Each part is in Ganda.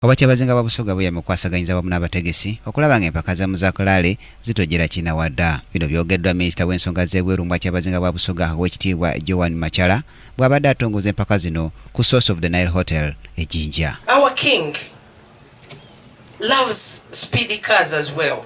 Obwakyabazinga bwa Busoga buyamye okukwasaganyiza awamu n'abategesi okulaba nga empaka za Muzakalaale zitojjera kinawada. Bino byogeddwa minisita w'ensonga z'ebweru mu bwakyabazinga bwa Busoga Owekitiibwa Joan Machala bw'abadde atongoza empaka zino ku Source of the Nile Hotel e Jinja. Our king loves speedy cars as well.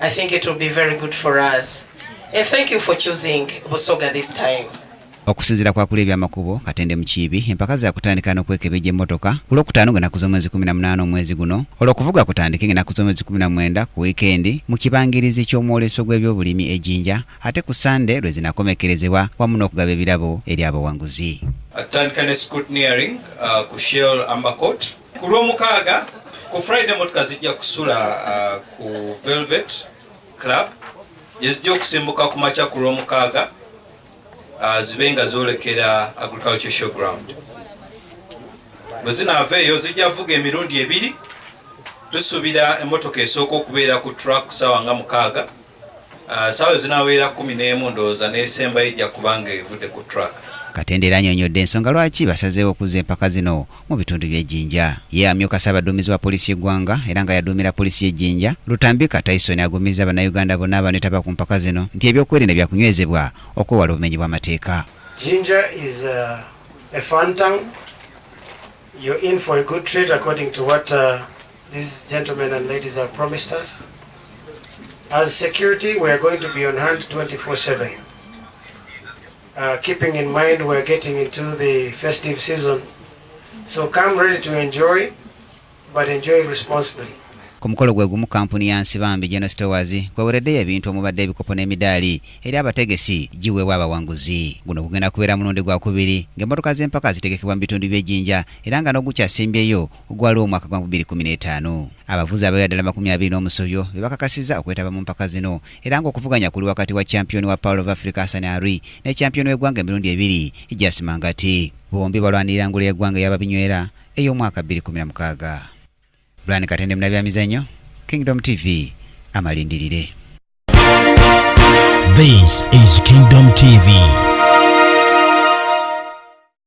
I think it will be very good for us. And thank you for choosing Busoga this time. okusinzira kwakula ebyamakubo katende mukiibi empaka zakutandika nokwekebejja emmotoka ku lwokutaano ng'enaku z'omwezi 18 omwezi guno olwokuvuga kutandike ng'enaku z'omwezi 19 ku wiikendi mu kibangirizi ky'omwoleso gw'ebyobulimi ejinja ate ku sande lwe zinakomekerezebwa wamu n'okugaba ebirabo eri abawanguzi atandika ne scrutineering uh, ku shell ambercot Ku lw'omukaaga ku Friday motoka zijja kusula uh, ku Velvet Club gye zijja okusimbuka ku makya ku lw'omukaaga uh, zibe nga zoolekera Agriculture Showground. Bwe zinaava eyo zijja vuga emirundi ebiri tusuubira emmotoka esooka okubeera ku track ssaawa nga mukaaga Ah, saawa zinaweera kumi n'emu ndowooza n'esembayo ejja kubanga evudde ku track Katende era anyonyodde ensonga lwaki basazeewo okuzza empaka zino mu bitundu by'e Jinja. Ye amyuka ssaabaduumizi wa poliisi y'eggwanga era nga yaduumira poliisi y'e Jinja, Lutambika Tyson agumizza Bannayuganda bonna abaneetaba ku mpaka zino nti ebyokwerinda byakunywezebwa okwewala obumenyi bw'amateeka. Jinja is a, uh, a fun town. You're in for a good treat according to what uh, These gentlemen and ladies have promised us. As security, we are going to be on hand 24-7. Uh, keeping in mind we are getting into the festive season. So come ready to enjoy, but enjoy responsibly. ku mukolo gwe gumu kampuni ya nsibambi geno stores kwewereddeyo ebintu omubadde ebikopo n'emidaali eri abategesi giweebwa abawanguzi guno kugenda kubeera mulundi gwakubiri ng'emmotoka z'empaka zitegekebwa mu bitundu by'ejjinja era nga n'ogukyasimbyeyo ogwaliwo omwaka gwa 2015. Abavuzi abawera ddala makumi abiri n'omusobyo be bakakasizza okwetaba mu mpaka zino era ng'okuvuganya kuli wakati wa kyampiyoni wa Power of Africa Hassan Arui ne kyampiyoni w'eggwanga emirundi ebiri Jas Mangati. Bombi balwanirira ngule y'eggwanga eya babinywera ey'omwaka 2016. Brian Katende Munabyamizannyo, Kingdom TV, Amalindirire. This is Kingdom TV.